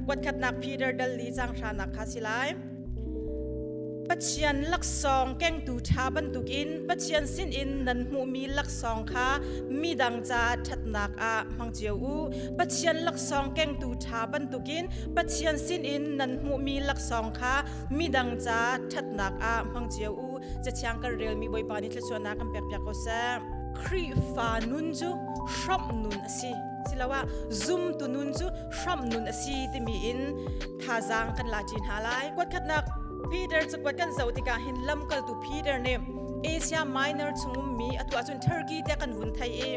Watkhatnak Peter dal li cang hranak kha si lai. Pathian laksawng kengtu ṭha bantukin Pathian sinin nan hmuhmi laksawng kha midang caah ṭhatnak ah hmang cio u. Pathian laksawng kengtu ṭha bantukin Pathian sinin nan hmuhmi laksawng kha midang caah ṭhatnak ah hmang cio u. Cathiang kan relmi Bawipa nih thluachuahnak kan pekpiak ko seh. Khrihfa nun cu hramh nun a si. Siloah zumtu nun cu hram nun a si timi in thazaang kan la ci hna lai kuatkhatnak Peter cakuat kan zo tikah hin lamkaltu Peter nih Asia Minor chung ummi atu ahcun Turkey te kan vun thai i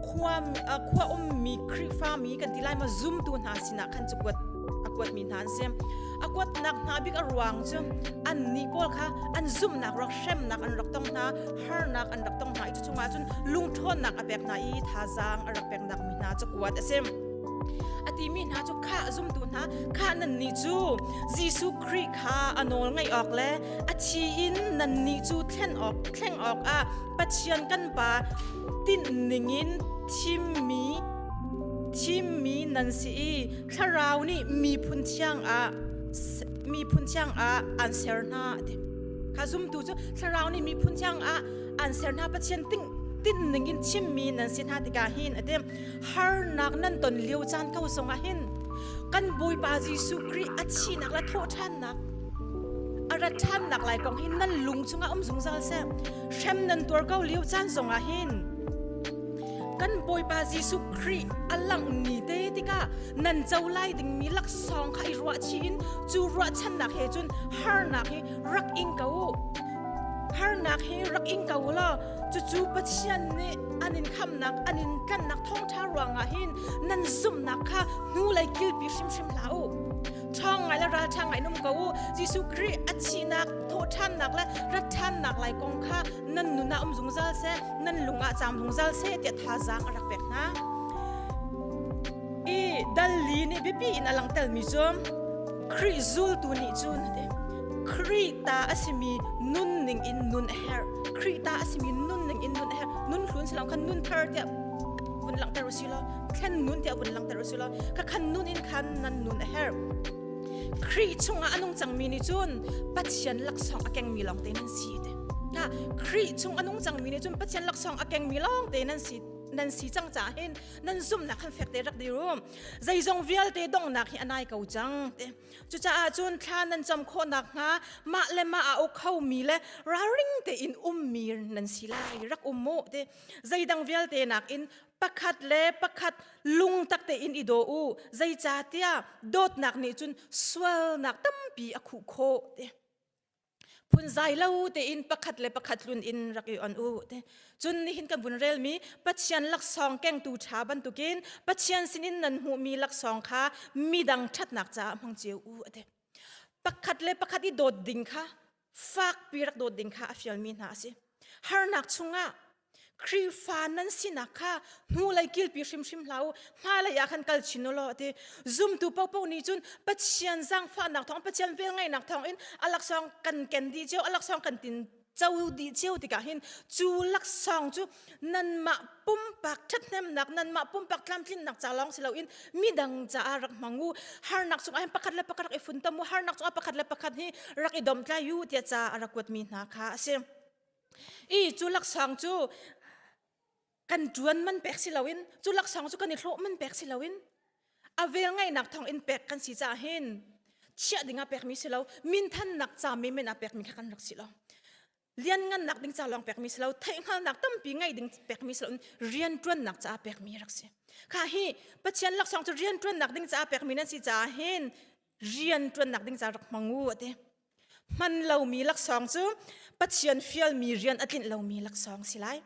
khua khua ummi Khrihfa mi kan ti lai ma zumtu hna sinah khan cu kuat a kuat mi hna an si a kuatnak hna bik a ruang cu an ni pawl kha an zumnak rak hremnak an rak tong hna harnak an rak tong hna i cu chungah cun lungṭhawnnak a pek hna i thazaang a rak peknak mi hna cu kuat a si a timi hna cu kha zumtu hna kha nannih cu Jesuh Khrih kha a nawl ngaih awk le a thi in nannih cu thlen awk thleng awkah Pathian kan Pa tinh ningin thimmi thimmi nan si i thlarau nih miphun thiang ah miphun thiang ah an ser hna ti kha zumtu cu thlarau nih miphun thiang ah an ser hna pathian tinh tin ningin thimmi nan si hna tikah hin a ti harnak nan ton lio caan ko zongah hin kan Bawipa Jesuh Khrih a chinak le thawh ṭhannak a rat ṭhannak lai kong hin nan lung chungah um zungzal seh hrem nan tuar ko lio caan zongah hin kan Bawipa Jesuh Khrih a langh ni te tikah nan co lai dingmi laksawng kha i ruahchi in cu ruahchannak he cun harnak hi rak ing ko u harnak hi rak ing ko u law cucu Pathian nih an in khamnak an in kannak thawngṭha ruangah hin nan zumhnak kha hnulei kilpi hrimhrim hlah u ṭhawng ngai le ralṭha ngai nung ko u Jesuh Khrih a thihnak thawhṭhannak le rat ṭhannak lai kong kha nan nun ah um zungzal seh nan lungah caam zungzal seh tiah thazaang a rak pek hna i dalli nih biapi in a langtelmi cu Khrih zultu nih cun Khrih ta a simi nunning in nun a herh Khrih ta a simi nun ning in nun her nun hlun silam khan nun thar tiah vun langhter u sih law thlen nun tiah vun langhter u sih law kha khan nun in khan nan nun a herh Khrih chungah a nung cangmi nih cun Pathian laksawng a kengmi lawng te nan si te na Khrih chung a nung cangmi nih cun Pathian laksawng a kengmi lawng te nan si nan si cang ca hin nan zumhnak khan fek te rak dir u zeizong vialte donghnak hi a nai ko cang te Cucaah cun thla nan cam khawhnak hnga mah le mah a uk khomi le ralring tein ummi nan si lai rak um mu ti zeidang vialte nakin pakhat le pakhat lungtak tein i daw u zeicahtiah dawtnak nih cun sualnak tampi a khuh khawh ti phunzai lo tein pakhat le pakhat hlun in rak i on u te cun nihin kan vun relmi pathian laksawng kengtu ṭha bantukin pathian sinin nan hmuhmi laksawng kha midang ṭhatnak caah hmang cio u ate pakhat le pakhat i dawt ding kha fakpi rak dawt ding kha a fialmi hna a si harnak chungah Khrihfa nan sinak kha hnulei kilpi hrimhrim hlah u hmailei ah khan kal chin u law ti zumtu popo nih cun Pathian zangfahnak thawng Pathian vel ngaihnak thawng in alaksawng kan ken dih cio alaksawng kan tin co dih cio tikah hin cu laksawng cu nanmah pumpak ṭhathnemnak nanmah pumpak tlamtlinnak ca lawng si loin midang caah rak hmang u harnak cungah hin pakhat le pakhat rak i funtom u harnak cungah pakhat le pakhat hi rak i domtlai u tiah ca a rak kuatmi hna kha a si. i cu laksang cu kan ṭuan man pek si loin cu laksang cu kan i hlawh man pek si loin a vel ngaihnak thawng in pek kan si caah hin chiah ding a pekmi si lo minthannak ca menmen a pekmi kha kan rak si lo lianngannak ding ca lawng pekmi si lo theihhngalnak tampi ngei ding pekmi si lo rianṭuannak caah pekmi rak si kha hi pathian laksang cu rianṭuannak ding caah pekmi nan si caah hin rianṭuannak ding ca rak hmang u a ti hman lomi laksawng cu Pathian fialmi rian a tlinh lomi laksawng si lai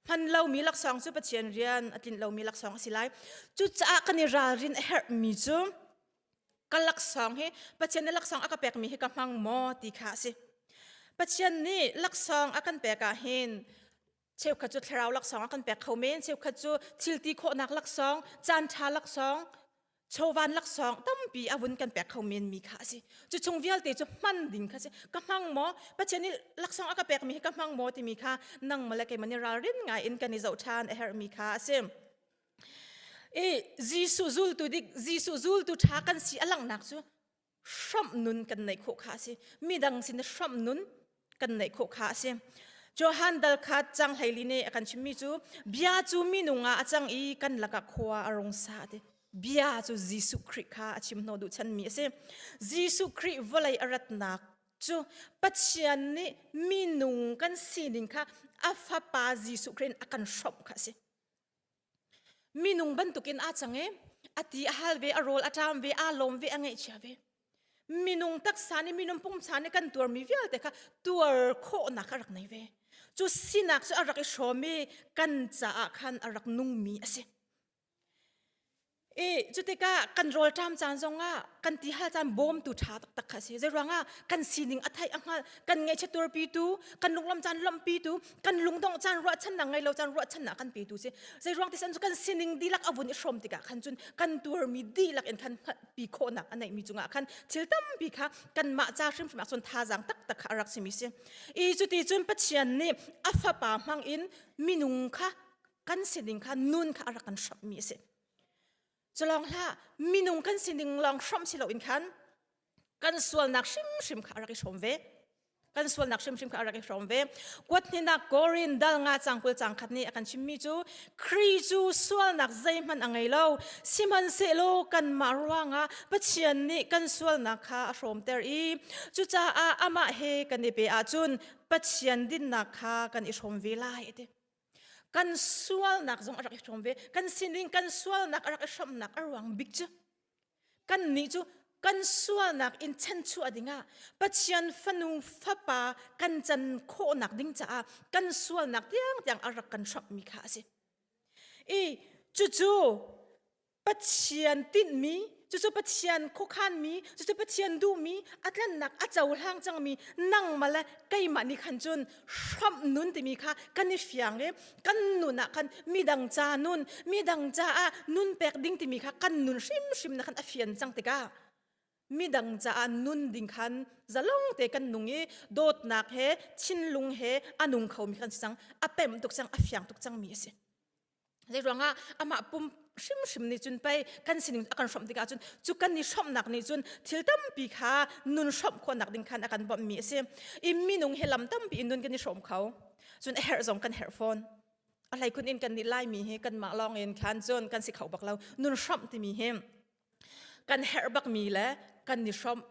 hman lomi laksawng cu Pathian rian a tlinh lomi laksawng a si lai cucaah kan i ralrin a herhmi cu ka laksawng hi Pathian nih laksawng a ka pekmi hi ka hmang maw ti kha a si Pathian nih laksawng a kan pek ahhin cheukhat cu thlarau laksawng a kan pek kho men cheukhat cu thilti khawhnak laksawng caan ṭha laksawng chovan laksawng tampi avun kan pek kho men mi kha asi cu chung vialte cu hman ding kha si ka hmang maw pathian i laksawng a ka pekmi hi ka hmang maw timi kha nang male keimani ralrin ngai in kan i zoh ṭhan a herh mi kha asi i Jesuh zultu dik Jesuh zultu ṭha kan si a langnak cu hramh nun kan nei khawh kha a si midang sin hramh nun kan nei khawh kha a si Johan dal kha chang hleili ne a kan chimmi cu bia cu minung ah a cang i kan lakah khua a rung sa te bia cu Jesuh Khrih kha a chim hno duh chanmi a si Jesuh Khrih vawlei a ratnak cu Pathian nih minung kan sining kha a fapa Jesuh Khrih in a kan hrawmh kha a si Minung bantukin aa cang i a ti a hal ve, a rawl a ṭam ve, aa lawm ve, a ngaihchia ve. Minung taksa nih minung pumsa nih kan tuarmi vialte kha tuar khawhnak a rak nei ve. Cu sinak cu a rak i hrawm i kan caah khan a rak nungmi a si. I cutikah kan rawlṭam caan zongah kan ti hal caan bawmtu ṭha taktak kha a si. Zei ruangah kan sining a theih a hngalh, kan ngaihchiat tuarpitu, kan lunglawmh caan lawmhpitu, kan lungdongh caan ruahchannak ngei lo caan ruahchannak kan petu si. Zei ruang tisan cu kan sining dihlak a vun i hrawm tikah khan cun kan tuarmi dihlak in khan hngalhpi khawhnak a neihmi cungah khan thil tampi kha kanmah ca hrimhrim ah cun thazaang taktak kha a rak simi si. I cuti cun Pathian nih a Fapa hmangin minung kha kan si ding kha nun kha a rak kan hrammi a si culong hlah minung kan si ding lawng hram si loin khan kan sualnak hrimhrim kha a rak i hrawm ve kan sualnak hrimhrim kha a rak i hrawm ve kuat hninak korin dal nga cangkul cangkhat nih a kan chimmi cu Khrih cu sualnak zeihmanh a ngei lo sihmanhsehlaw kanmah ruangah Pathian nih kan sualnak kha a hrawmter i cucaah amah he kan i pe ahcun Pathian dinnak kha kan i hrawm ve lai a ti kan sualnak zong a rak i hrawm ve kan sinin kan sualnak a rak i hrawmnak a ruang bik cu kan nih cu kan sualnak in chenchuah dingah Pathian fanu fapa kan can khawhnak ding caah kan sualnak tiang tiang a rak kan hrawmmi kha a si i cucu Pathian tinhmi cucu Pathian khuakhanmi cucu Pathian duhmi a tlannak a cohlang cangmi nangmah le keimah nih khan cun hrawmh nun timi kha kan i fiang i kan nun ah khan midang ca nun midang caah nun pek ding timi kha kan nun hrimhrim na khan a fian cang tikah midang caah nun ding khan zalong te kan nung i dawtnak he thinlung he a nung khomi khan si cang a pemh tuk cang a fiang tuk cangmi a si Zeiruangah amah pum hrimhrim nih cun pei kan sining a kan hrawmh tikah cun cu kan i hrawmhnak nih cun thil tampi kha nun hrawmh khawhnak ding khan a kan bawmhmi a si. I minung hi lam tampi in nun kan i hrawm kho. Cun a herh zong kan herh fawn. A hleikhun in kan nih Laimi hi kanmah lawng in khan cun kan si kho bak lo. Nun hrawmh timi hi kan herh bakmi le kan i hrawmh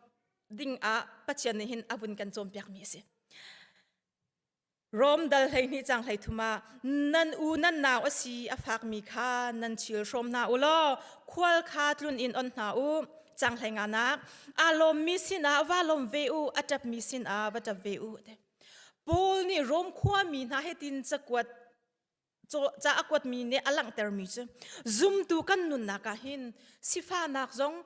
ding ah Pathian nih hin a vun kan cawnpiakmi a si. Rom dal hleihnih cang hleithum ah nan u nan nau a si a fakmi kha nan chil hrawm hna u law khual kha tlun in on hna u canghlei nga nak aa lawmmi sinah va lawm ve u a ṭapmi sinah va ṭap ve u te Paul nih Rom khuami hna hitin cakuat ca a kuatmi nih a langhtermi cu zumtu kan nunnak ah hin sifahnak zong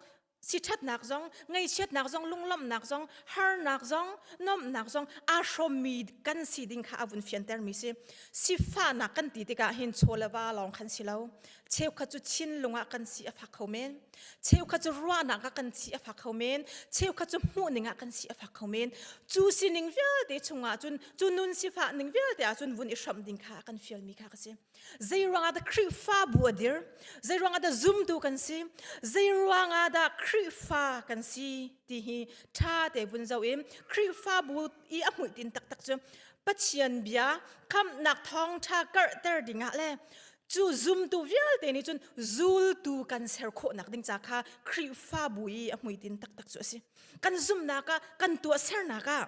siṭhatnak zong ngaihchiatnak zong lunglawmhnak zong harnak zong nuamhnak zong aa hrawmmi kan si ding kha a vun fiantermi si sifahnak kan ti tikah hin chaw le va lawng khan si lo cheukhat cu chinlung ah kan si a fak kho men cheukhat cu ruahnak ah kan si a fak kho men cheukhat cu hmuhning ah kan si a fak kho men cu sining vialte chungah cun cu nun sifah ning vialte ah cun vun i hram ding kha kan fial mi kha ka si zei ruangah dah khrihfabu a dir zei ruangah dah zumtu kan si zei ruangah dah khrihfa kan si ti hi tha te vun zo in khrihfabu i a muitin taktak cu pathian bia khamnak thawngtha karhter dingah le cu zumtu vialte nih cun zultu kan ser khawhnak ding ca kha Khrihfabu i a hmuitin taktak cu a si kan zumnak ah kan tuahsernak ah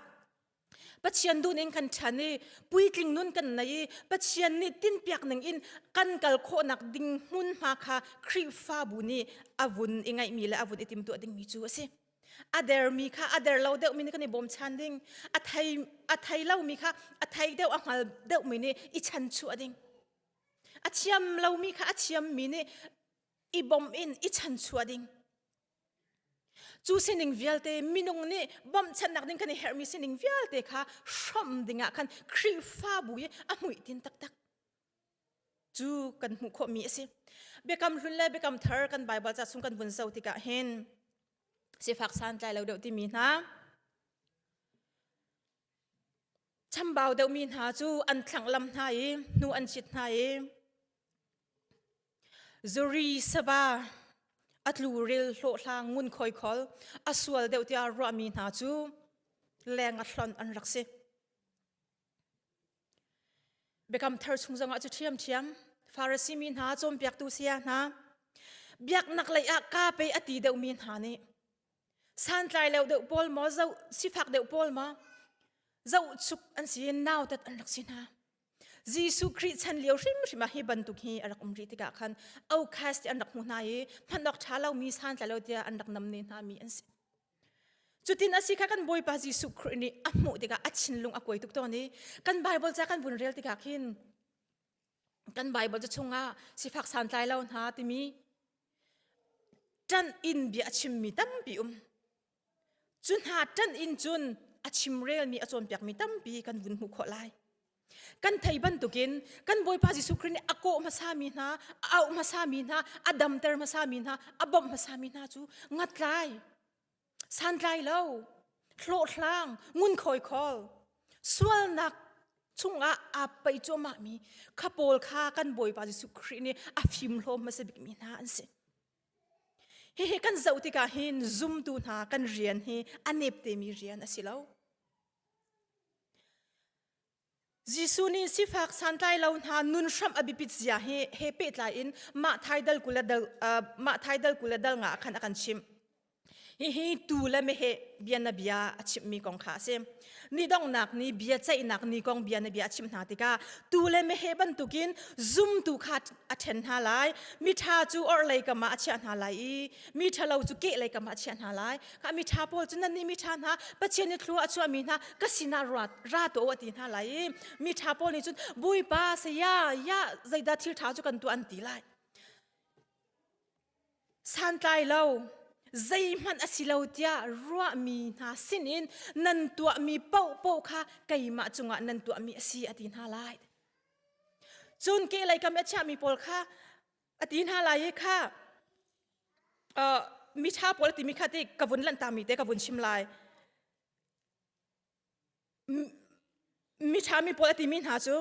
Pathian dun in kan ṭhan i puitling nun kan nei i Pathian nih tinpiak ning in kan kal khawhnak ding hmunhma kha Khrihfabu nih a vun i ngaihmi le a vun i timtuah dingmi cu a si a dermi kha a der lo deuhmi nih kan i bawmchan ding a thei a thei lomi kha a thei deuh a hngal deuhmi nih i chanchuah ding A thiam lomi kha a thiammi nih i bawmh in i chanchuah ding. Cu sining vialte minung nih bawmhchannak ding kan i herhmi sining vialte kha hrawm dingah khan Khrihfabu i a muihtin taktak. Cu kan hmuh khawhmi a si. Biakam hlun le biakam thar kan Baibal ca chung kan vun so tikah hin sifak santlai lo deuh timi hna Chambau deuhmi hna cu an thlanglam hna i hnu an cit hna i zuri sava a tluril hlawhhlang ngun khoikhol a sual deuh tiah ruahmi hna cu leng a hlonh an rak si. Biakam thar chung zongah cu ṭhiamṭhiam Farasi mi hna cawnpiaktu saya hna biaknak lei ah ka pe a ti deuhmi hna nih santlai lo deuh pawl maw zoh sifak deuh pawl maw zoh chuk an si i nautat an rak si hna Jesuh Khrih chan lio hrimhrim ah hi bantuk hi a rak um rih tikah khan Oukhast ti an rak hmuh hna i hman awk ṭha lomi santlai lo tiah an rak nam ne hna mi an si. Cutin asi kha kan Bawipa Jesuh Khrih nih a hmuh tikah a thinlung a kuai tuk tawn i kan Bible ca kan vun rel tikah khin kan Bible ca chungah sifak santlai lo hna timi ṭan in bia a chimmi tampi um. Cu hna ṭan in cun a chimrelmi a cawnpiakmi tampi kan vun hmuh khawh lai. Kan thei bantukin kan Bawipa Jesuh Khrist nih a kawh hmasa mi hna, a auh hmasa mi hna, a damter hmasa mi hna, a bawmh hmasa mi hna cu ngatlai, santlai lo, hlawhhlang, ngunkhawi khawl, sualnak chungah aa peih cuahmah mi kha pawl kha kan Bawipa Jesuh Khrist nih a fimhlawm hmasa bikmi hna an si. Hihi kan zoh tikah hin zumtu hna kan rian hi a neptemi rian a si lo. Jesuh nih sifak santlai lo hna nun hram a bipit zia hi he pehtlai in mah thaidal kule dal uh, mah thaidal kule dal nga khan akan chim hihi tu le mehe bia na bia a chim mi kong kha a si ni dongnak ni bia ceihnak ni kong bia na bia a chim hna tikah tu le mehe bantukin zumtu kha a ṭhen hna lai mi ṭha cu orhlei kama a chiah hna lai i mi ṭhalo cu kehlei kama a chiah hna lai ka miṭha pawl cu nannih miṭha hna Pathian i thlu a chuahmi hna ka sinah ruat ra tu a ti hna lai i miṭha pawl nih cun bawipa saya ya zeidah thil ṭha cu kan tuah an ti lai santlai lo zeihmanh a si lo tiah ruahmi hna sinin nan tuahmi paohpaoh kha keimah cungah nan tuahmi a si a ti hna lai cun kehlei kam i a chiahmi pawl kha ati hna lai i kha miṭha pawl timi kha ti ka vun lanhtami te ka vun chim lai miṭha mi pawl timi hna cu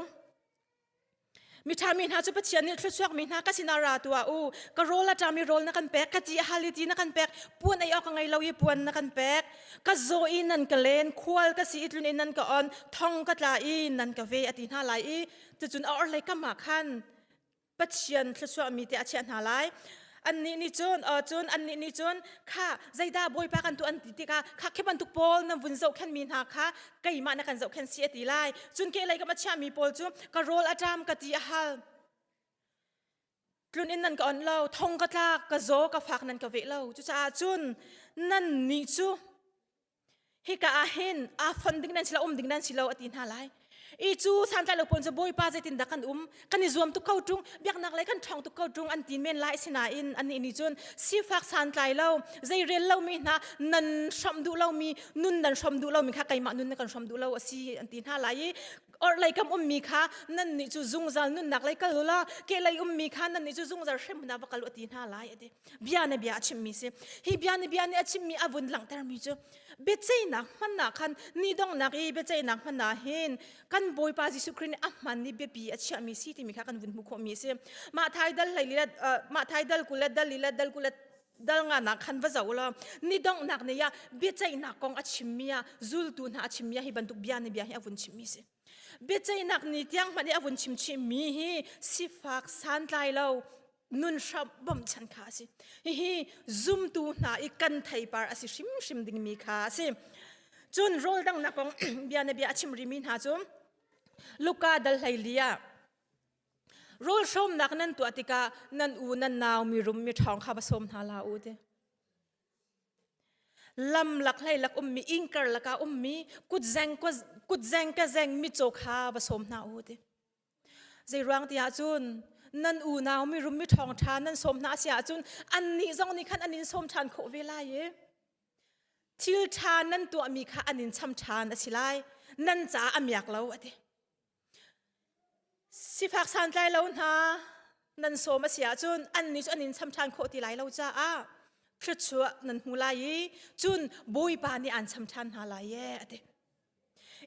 miṭha mi hna cu pathian nih thluachuak mi hna ka sinah ra tuah u ka rawl a ṭami rawl na kan pek ka ti haliti na kan pek puan ei awk ka ngei lo i puan na kan pek ka zaw i nan ka len khual ka si i tlun in nan ka on thong ka tla i nan ka ve a ti hna lai i cucun a orhlei kamah khan Pathian thlusuahmi te a chiah hna lai. Annih nih cun cun annih nih cun kha zeidah bawipa kan tuah an ti tikah kha khi bantuk pawl na vun zohkhenmi hna kha keimah na kan zohkhen si a ti lai. Cun kehlei kam a chiahmi pawl cu ka rawl a ṭam ka ti a hal. Tlun in nan ka onh lo, thong ka tlak, ka zaw ka fak nan ka veh lo. Cucaah cun nan nih cu hika ah hin aa fon ding nan si lo um ding nan si lo ati hna lai i cu santlai lo pawl cu bawipa zeitin dah kan um kan i zuam tuk ko ṭung biaknak lei kan ṭhawng tuk ko ṭung an tin men lai sinain anih nih cun sifak santlai lo zei rel lomi hna nan hrawm duh lomi nun nan hrawm duh lomi kha keimah nun na kan hrawm duh lo asi an ti hna lai i orhlei kam ummi kha nan nih cu zungzal nunnak lei kal la ke lei ummi kha nan nih cu zungzal hrem hna va kal u ati hna lai ati bia ne bia a chimmi si hi bia ne bia ne a chimmi a vun langhtermi cu biaceihnak hmannak khan ni donghnak i biaceihnak hmanah hin kan bawipa jesuh christ nih a hman i biapi a chiahmi si timi kha kan vun hmuh khawhmi a si mah thai dal hlei let mah thai dal kulet dal lilet dal kulet dal nga nak khan va zo lo ni donghnak ne ya biaceihnak kong a chimmi a zultu hna a chimmi hi bantuk bia ne bia hi a vun chimmi si biaceihnak ni tiang hman i a vun chimchimi hi sifak santlai lo nun hram bawmh chan kha a si hihi zumtu hna i kan theipar a si hrimhrim dingmi kha a si cun rawl dangnak kong bianabia a chimrimi hna cu luka dal hlei ah rawl hrawmnak nan tuah tikah nan u nan nau mirum mi ṭhawng kha va sawm hna la u ti lamlak hlei lak ummi ingkar laka ummi kutzeng kutzeng ka zeng mi caw kha va sawm hna u ti Zeiruang tiah cun nan unau mirum mi ṭhawngṭha nan sawm hna a si ahcun annih zong nih khan an in sawm ṭhan khawh ve lai i thil ṭha nan tuahmi kha an in cham ṭhan a si lai. Nan caah a miak lo a ti. Sifak santlai lo hna nan sawm a si ahcun annih cu an in cham ṭhan khawh ti lai lo caah thluachuah nan hmu lai i cun Bawipa nih aan cham ṭhan hna lai ee a ti.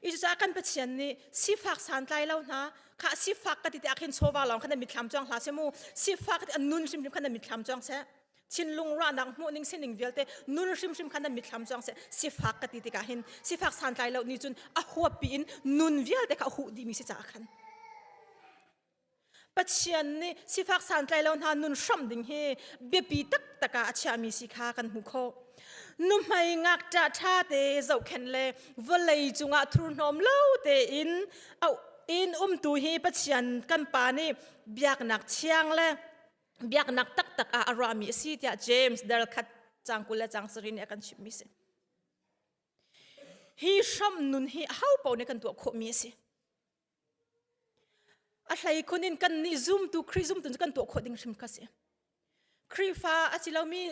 Icucah kan Pathian nih sifak santlai lo hna kha sifak ka ti te ahkhin chawva lawng khan an mitthlam cuang hlah se mu sifak ti an nun hrimhrim khan an mitthlam cuang seh thinlung ruahnak hmuh ning sining vialte nun hrimhrim khan an mitthlam cuang seh sifak ka ti tikah hin sifak santlai lo nih cun a huap piin nun vialte kha a huh dihmi si caah khan Pathian nih sifak santlai lo hna nun hram ding hi biapi taktak ah a chiami si kha kan hmu kho. Nuhmei ngakṭa ṭha te zohkhen le vawlei cungah thurhnawm lo tein in umtu hi Pathian kan pa nih biaknak thiang le biaknak taktak ah a ruahmi a si tiah James dal khat cang kul le cang sarin nih a kan chimmi si. Hi hram nun hi ahopo nih kan tuah khawhmi a si. A hleikhun in kannih zumtu Khrih zumtu cu kan tuah khawh ding hrim kha a si. Khrihfa a si lomi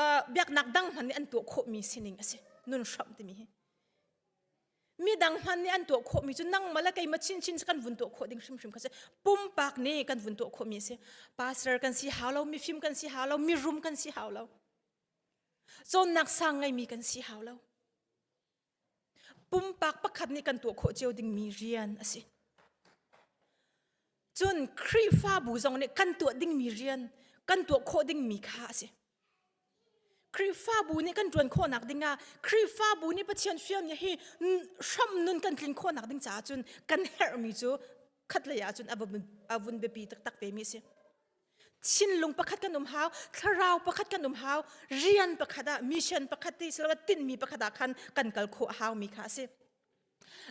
uh, biaknak dang hman nih an tuah khawhmi sining a si. Nun hramh timi hi. Midang hman nih an tuah khawhmi cu nangmah le keimah chinchin kan vun tuah khawh ding hrimhrim kha si. Pumpak nih kan vun tuah khawhmi a si. Pastor kan si hau lo, mifim kan si hau lo, mirum kan si hau lo. Cawnnak sang ngeimi kan si hau lo. Pumpak pakhat nih kan tuah khawh cio dingmi rian a si. Cun Khrihfabu zong nih kan tuah dingmi rian, kan tuah khawh dingmi kha a si. Khrihfabu nih kan ṭuan khawhnak ding ah Khrihfabu nih Pathian fialnia hi hram nun kan tlin khawhnak ding caah cun kan herhmi cu khatlei ah cun a vun biapi taktak vemi a si. Thinlung pakhat kan um hau, thlarau pakhat kan um hau, rian pakhat ah mission pakhat ti siloah tinhmi pakhat ah khan kan kal khawh hau mi kha a si.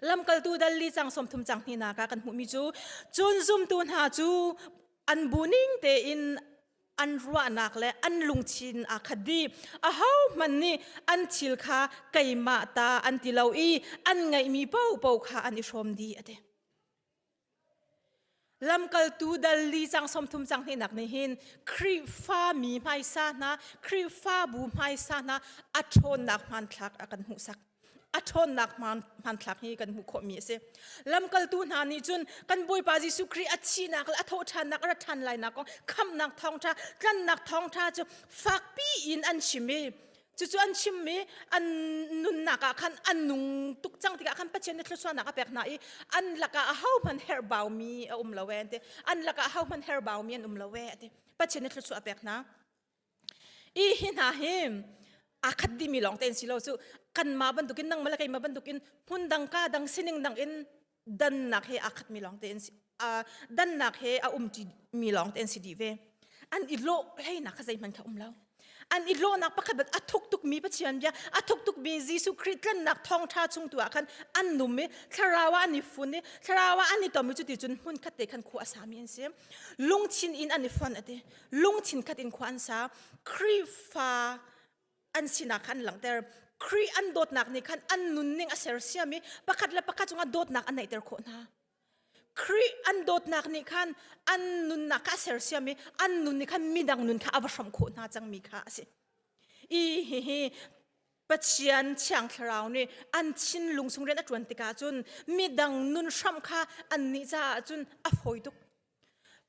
Lamkaltu dal li cang som thum cang hni na ka kan hmuhmi cu cun zumtu hna cu an bu ning tein an ruahnak le an lungthin aa khat dih ahohmanh nih an thil kha keimah ta an ti lo i an ngeihmi popo kha an i hrawm dih a ti. Lamkaltu dal li cang sawmthum cang hnih nak nih hin Khrihfa mi hmaisa hna, Khrihfabu hmaisa hna a ṭhawnnak hmanthlak a kan hmuhsak. A ṭhawnnak hmanthlak hi kan hmuh khawhmi a si. Lamkaltu hna nih cun kan Bawipa Jesuh Khrih a thihnak le a thawhṭhannak a ra ṭhan lainak kong, khamhnak thawngṭha, tlannak thawngṭha cu fakpi in an chim i Cucu an chimmi an nunnak ah khan an nung tuk cang tikah khan Pathian nih thlusuahnak a pek hna i an lakah ahohmanh herhbaumi a um lo e an ti an lakah ahohmanh herhbaumi an um lo e a ti Pathian nih thlusuah a pek hna i hi hna hi aa khat dimi lawng tein si lo cu kanmah bantukin nangmah le keimah bantukin hmun dang ka dang sining dang in dannak he aa khat mi lawng te an si uh, dannak he a um ṭi mi lawng te an si dih ve an i lawh hleinak kha zeihmanh kha um lo an i lawhnak pakhat bat a thuk tuk mi Pathian bia a thuk tuk mi Jesuh Christ tlannak thawngṭha chung tu ah khan an num i thlarau ah an i fun i thlarau ah an i tom i cuti cun hmun khat te khan khua a sa mi an si lungthin in an i fon ati lungthin khat in khua an sa Khrihfa an sinak khan an langhter Khrih an dawtnak nih khan an nunning a sersiam i pakhat le pakhat cungah dawtnak an neihter khawh hna Khrih an dawtnak nih khan an nunnak kha a sersiam i an nun nih khan midang nun kha a va hrawm khawh hna cangmi kha a si i hihi Pathian thiang thlarau nih an thinlung sung rian a ṭuan tikah cun midang nun hram kha annih caah cun a fawi tuk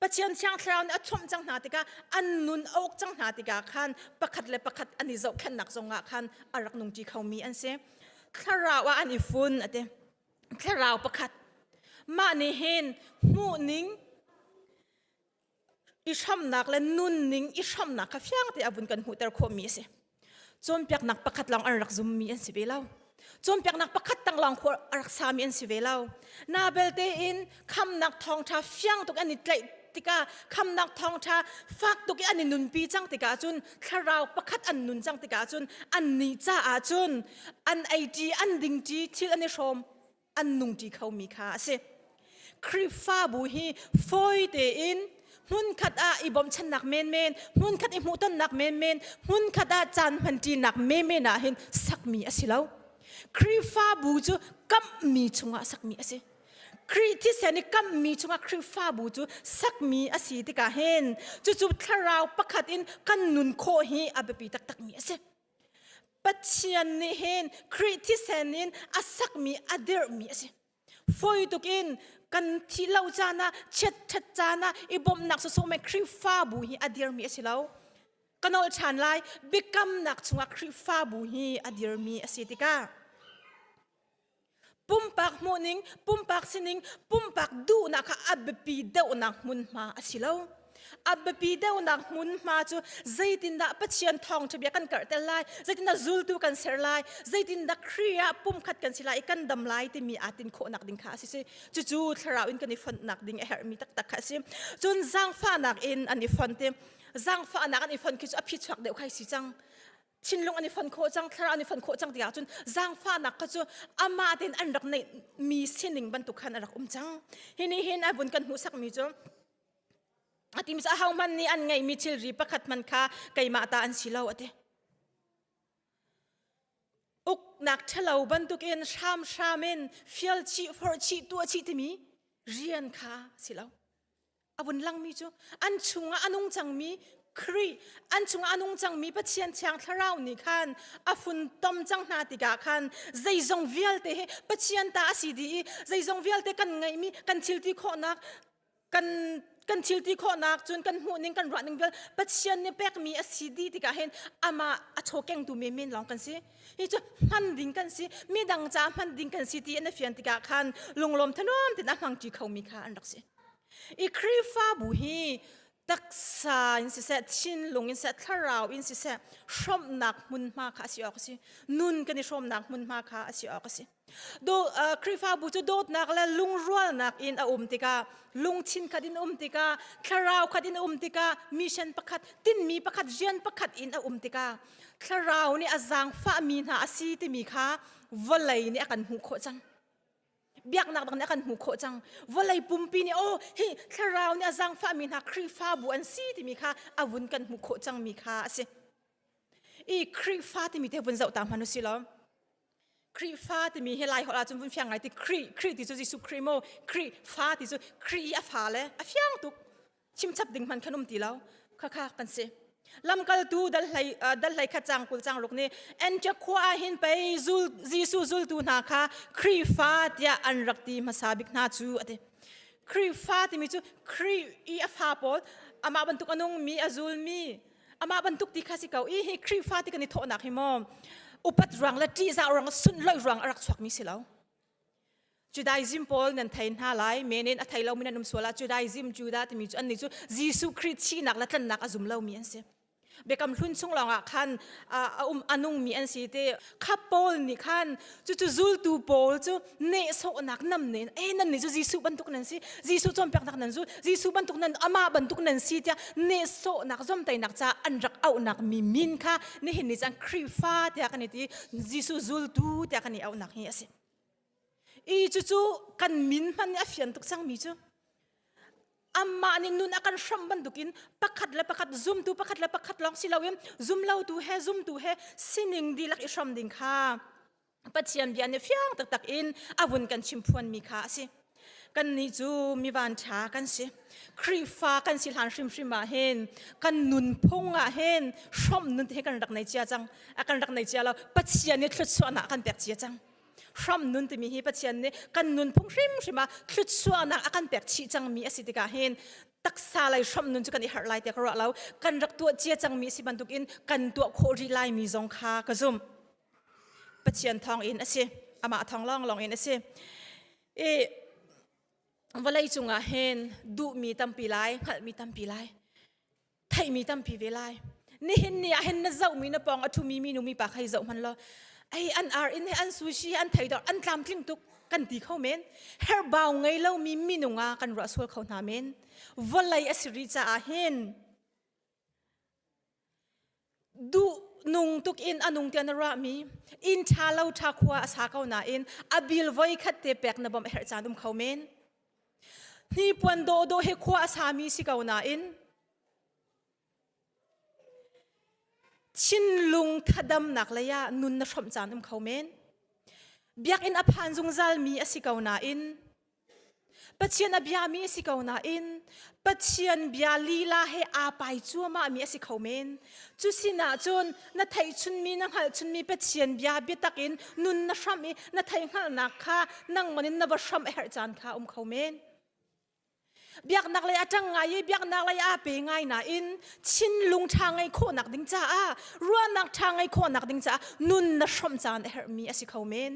Pathian thiang thlarau nih a chawmh cang hna tikah an nun a uk cang hna tikah khan pakhat le pakhat an i zohkhenhnak zongah khan a rak nung ṭi khomi an si. Thlarau ah an i fun a ti. Thlarau pakhat. Mah nih hin hmuhning i hramnak le nunning i hramnak kha fiang te a vun kan hmuhter khawhmi a si. Cawnpiaknak pakhat lawng an rak zummi an si ve lo. Cawnpiaknak pakhat tang lawng a rak sami an si ve lo. Na belte in khamnak thawngṭha fiang tuk an i tlaih tikah khamnak thawngṭha fak tuk i an i nunpi cang tikah cun thlarau pakhat an nun cang tikah cun an nih caah cun an ei ṭi an ding ṭi thil an i hrawm an nungṭi khomi kha a si. Khrihfabu hi fawi tein hmunkhat ah i bawmchannak menmen, hmunkhat i hmuhtonnak menmen, hmunkhat ah caan hmanṭinak menmen ah hin sakmi a si lo. Khrihfabu cu kamhmi chungah sakmi a si. Khrih thisen i kamhmi chungah Khrihfabu cu sakmi a si tikah hin cucu thlarau pakhat in kan nun khawh hi a biapi taktakmi a si. Pathian nih hin Khrih thisen in a sakmi a dirhmi a si. Fawi tuk in kan thih lo caan ah, chiatṭhat caan ah i bawmhnak sawsawh men Khrihfabu hi a dirmi a si lo. Ka nolh ṭhan lai, biakamnak chungah Khrihfabu hi a dirmi a si tikah Pumpak hmuhning, pumpak sining, pumpak duhnak kha a biapi deuhnak hmunhma a si lo. A biapi deuhnak hmunhma cu zeitindah Pathian thawngṭhabia kan karhter lai, zeitindah zultu kan ser lai, zeitindah Khrih ah pumkhat kan si lai i kan dam lai timi aa tin khawhnak ding kha a si. Cucu thlarau in kan i fontnak ding a herhmi taktak kha a si. Cun zaangfahnak in an i font i zaangfahnak an i font khi cu a phichuak deuh kha a si cang. thinlung an i fon khawh cang thlarau an i fon khawh cang tikah cun zaangfahnak kha cu amah tein an rak neih mi sining bantuk khan a rak um cang hi ni hin a vun kan hmuhsakmi cu a ti mi cu ahohmanh nih an ngeih mi thilri pakhat man kha keimah ta an si lo a ti uknak ṭhalo bantukin hramhram in fial chih forh chih tuah chih timi rian kha si lo a vun langmi cu an chungah a nung cangmi Khrih an chungah a nung cangmi Pathian thiang thlarau nih khan a fun tom cang hna tikah khan zeizong vialte hi Pathian ta a si dih i zeizong vialte kan ngeihmi kan thilti khawhnak kan kan thilti khawhnak cun kan hmuhning kan ruahning vial Pathian nih pekmi a si dih tikah hin amah a chawkengtu menmen lawng kan si hi cu hman ding kan si midang ca hman ding kan si tiin a fian tikah khan lunglawm thanuam tein a hmang ṭi khomi kha an rak si I Khrihfabu hi taksa in siseh, thinlung in siseh, thlarau in siseh, hrawmhnak hmunhma kha a si awk a si. Nun kan i hrawmnak hmunhma kha a si awk a si. Do, uh, Khrihfabu cu dawtnak le lungrualnak in a um tikah, lungthin khat in um tikah, thlarau khat in um tikah, mission pakhat, tinmi pakhat, rian pakhat in a um tikah, thlarau nih a zaangfahmi hna a si timi kha vawlei nih a kan hmuh khawh cang. biaknak bang nih a kan hmuh khawh cang vawlei pumpi nih oh hi thlarau nih a zangfahmi hna khrihfabu an si timi kha a vun kan hmuh khawh cang mi kha a si i khrihfa timi te vun zoh ta hman u si law khrihfa timi hi lai holh ahcun vun fiang ngai ti khrih khrih ti cu jesuh khrih maw khrihfa ti cu khrih i a fa le a fiang tuk chimchap ding hman khan um ti lo khakha kan si lamkaltu dal hlei dal hlei kha chang kul chang ruk nih Antioch khua ah hin pei zul Jesu zultu hna kha Khrihfa tiah an rak ti hmasa bik hna cu ati Khrihfa timi cu Khrih i a fa pawl amah bantuk a nung mi a zul mi amah bantuk ti kha si ko i hi Khrihfa ti kan i thawhnak hi maw upat ruang le ṭih zah ruang sun loih ruang a rak chuak mi si lo Judaism pawl nan thei hna lai men in a thei lomi nan um sual ah Judaism Judah timi cu annih cu Jesuh Khrist sinak le tlannak a zum lomi an si biakam hlun chung lawngah khan a um a nungmi an si te kha paul nih khan cucu zultu pawl cu nehsawhnak nam ne e nan nih cu Jesuh bantuk nan si Jesuh cawnpiaknak nan zul Jesuh bantuk nan amah bantuk nan si tiah nehsawhnak zomtainak ca an rak auhnak mi min kha nihin ni cun Khrihfa tiah kan i ti Jesuh zultu tiah kan i auhnak hi a si I cucu kan min hman a fian tuk cangmi cu amah nih nun a kan hram bantukin pakhat le pakhat zumtu pakhat le pakhat lawng si loin zumlotu he zumtu he sining dihlak i hram ding kha Pathian bia nih fiang taktak in a vun kan chim phuanmi kha a si. Kannih cu mi vanṭha kan si. Khrihfa kan si hlan hrimhrim ah hin kan nunphung ah hin hrom nun te kan rak nei cia cang. A kan rak nei cia lo. Pathian nih thluachuahnak kan pek cia cang. Hrom nun timi hi Pathian nih kan nunphung hrimhrim ah thluachuahnak a kan pek chih cangmi a si tikah hin taksa lei hrom nun cu kan i harh lai tiah ka ruah lo. Kan rak tuah cia cangmi a si bantukin kan tuah khawh rih laimi zong kha ka zumh. Pathian thawngin a si. Amah thawng lawnglawng in a si. I vawlei cungah hin duhmi tampi lai, hngalhmi tampi lai, theihmi tampi ve lai. Nihin ni ah hin na zohmi na pawng a ṭhumi minu mipa kha hi zoh hman law ei an ar in he an sushi an theidor an tlamtling tuk kan ti kho men herbau ngei lomi minung ah kan ruah sual kho hna men vawlei a si ri caah hin duh nung tuk in a nung tiah na ruahmi inn ṭha lo ṭha khua a sa ko nain a bil voi khat te pek na bawmh a herh caan um kho men hnipuan dawhdawh hi khua a sami si ko nain thinlung thadamnak lei ah nun na hrawmh caan um kho men biakinn a phan zungzalmi a si ko nain Pathian a biami a si ko nain Pathian bia lila he aa pai cuahmahmi a si kho men. Cu sinah cun na theihchunmi na hngalhchunmi Pathian bia biatak in nun na hram i na theihngalhnak kha nangmah in na va hram a herh caan kha um kho men. Biaknak lei a ṭang ngai i biaknak lei aa pe ngai nain thinlung ṭha ngei khawhnak ding caah ruahnak ṭha ngei khawhnak ding caah nun na hrawmh caan a herhmi a si kho men.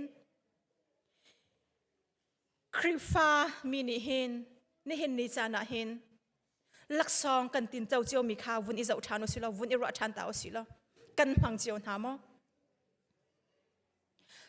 Khrihfa mi nih hin nihin ni caan ah hin laksawng kan tinco ciomi kha vun i zoh ṭhan u silo, vun i ruah ṭhan ta u silo. Kan hmang cio hna maw?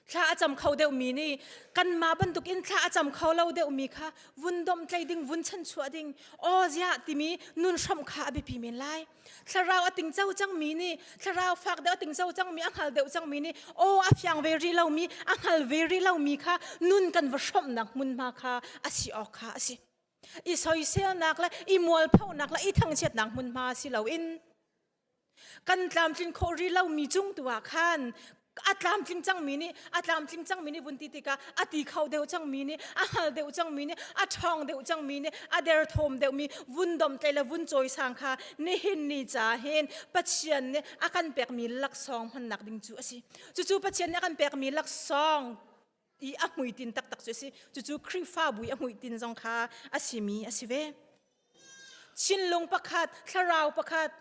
Thla a cam kho deuhmi nih kanmah bantuk in thla a cam kho lo deuhmi kha vun domtlei ding, vun chanchuah ding, aw ziah timi nun hramh kha a biapi men lai. thlarau a tingco cangmi nih thlarau fak deuh a tingco cangmi a hngal deuh cangmi nih aw a fiang ve rih lomi a hngal ve rih lomi kha nun kan va hrawmhnak hmunhma kha a si awk kha a si i soiselnak le i mualphonak le i thangchiatnak hmunhma si loin kan tlamtlin khawh rih lomi cung tu ah khan a tlamtling cangmi nih a tlamtling cangmi nih vun ti tikah a ti kho deuh cangmi nih a hngal deuh cangmi nih a ṭhawng deuh cangmi nih a derthawm deuhmi vun domtlei le vun cawisang kha nihin ni ca hin Pathian nih a kan pekmi laksawng hmannak ding cu a si cucu Pathian nih a kan pekmi laksawng i a hmuitin taktak cu a si cucu Khrihfabu i a hmuitin zong kha a simi a si ve thinlung pakhat thlarau pakhat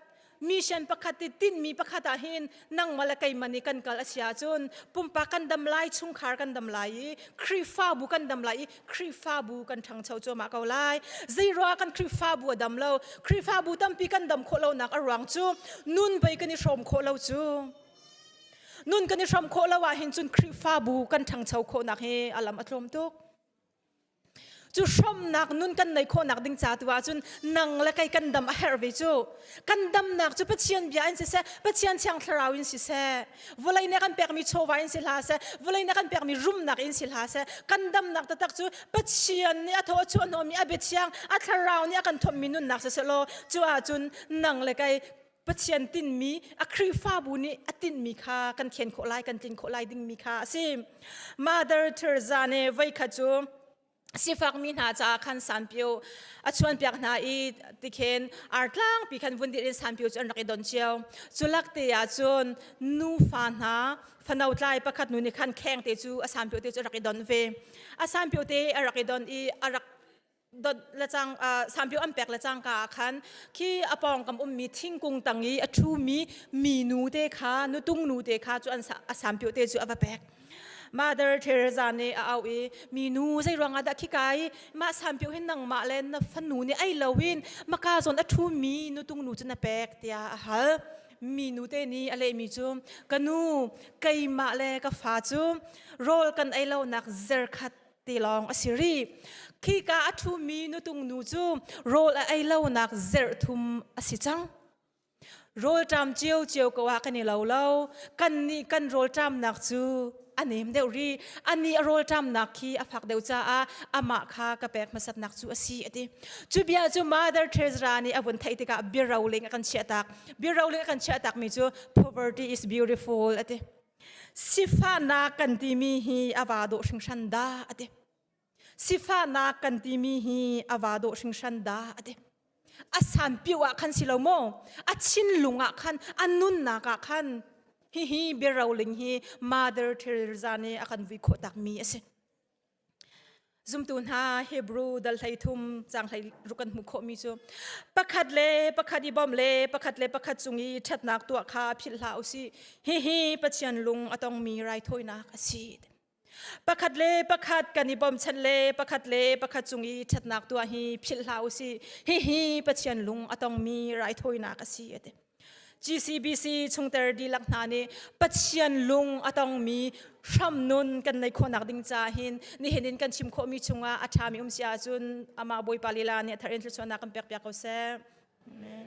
mission pakhat ti tinmi pakhat ah hin nangmah le keimah nih kan kal a si ahcun pumpak kan dam lai chungkhar kan dam lai i Khrihfabu kan dam lai i Khrihfabu kan ṭhangcho cuahmah ko lai zeiruangah kan Khrihfabu a dam lo Khrihfabu tampi kan dam khawh lonak a ruang cu nun pei kan i hrawm khawh lo cu nun kan i hram khawh lo ahhin cun Khrihfabu kan ṭhangcho khawhnak hi a lam a tlawm tuk cu hromnak nun kan nei khawhnak ding ca tu ahcun nang le kei kan dam a herh ve cu kan damnak cu Pathian bia in siseh Pathian thiang thlarau in siseh vawlei nih kan pekmi chawva in si hla seh vawlei nih kan pekmi rumnak in si hla seh kan damnak taktak cu Pathian nih a thaw a chuah hnawhmi a biathiang a thlarau nih a kan thawmmi nunnak siseh law cu ahcun nang le kei Pathian tinmi a Khrihfabu nih a tinmi kha kan khen khawh lai, kan tlin khawh lai dingmi kha a si. Mother Teresa nih voi khat cu sifakmi hna caah khan sanpio a chuanpiak hna i tikhen artlangpi khan vun dir in sanpio cu an rak i don cio. Culak te ah cun nufa hna fano tlai pakhat nu nih khan kheng te cu a sanpio te cu a rak i don ve. A sanpio te a rak i don i a rak sanpio an pek le cangka ah khan khi a pawngkam ummi thingkung tang i a ṭhumi mi nu te kha nutung nu te kha cu an a sanpio te cu a va pek Mother Teresa nih a au i mi nu zei ruangah dah khika i mah sanpio hin nangmah le na fanu nih ei loin maka zawn a ṭhumi nutung nu cu na pek tiah a hal mi nu te nih a lehmi cu ka nu keimah le ka fa cu rawl kan ei lonak zerkhat tilawng a si ri khika a ṭhumi nutung nu cu rawl a ei lonak zerh thum a si cang rawl ṭam cio cio ko ah kan i lo lo kan nih kan rawl ṭamnak cu a nem deuh ri a nih rawl ṭamnak khi a fak deuh caah amah kha ka pek hmasatnak cu a si a ti cu bia cu mother Teresa nih a vun theih tikah biaroling a kan chiahtak biaroling a kan chiahtakmi cu poverty is beautiful a ti sifahnak kan timi hi a va dawh hringhran da ati sifahnak kan timi hi a va dawh hringhran da ati a san piu ah khan si lo maw a chin lung ah khan a nunnak ah khan hi hi biaroling hi mother Teresa nih a kan vui khawh tak mi a si Zumtu hna Hebrew dal hleithum cang hlei ruk kan hmu khawhmi cu pakhat le pakhat i bawm le pakhat le pakhat cung i ṭhatnak tuah kha philh hlah u sih. Hihi Pathian lung a tongmi raithawinak a si. Pakhat le pakhat kan i bawmchan le pakhat le pakhat cung i ṭhatnak tuah hi philh hlah u sih. Hihi Pathian lung a tongmi raithawinak a si a ti. GCBC chungter dihlak hna nih Pathian lung a tongmi hramnun kan nei khawhnak ding ca hin nihin in kan chim khawhmi chungah a ṭhami um si ahcun amah Bawipa lila nih a thar in thluachuahnak kan pekpiak ko seh. Amen.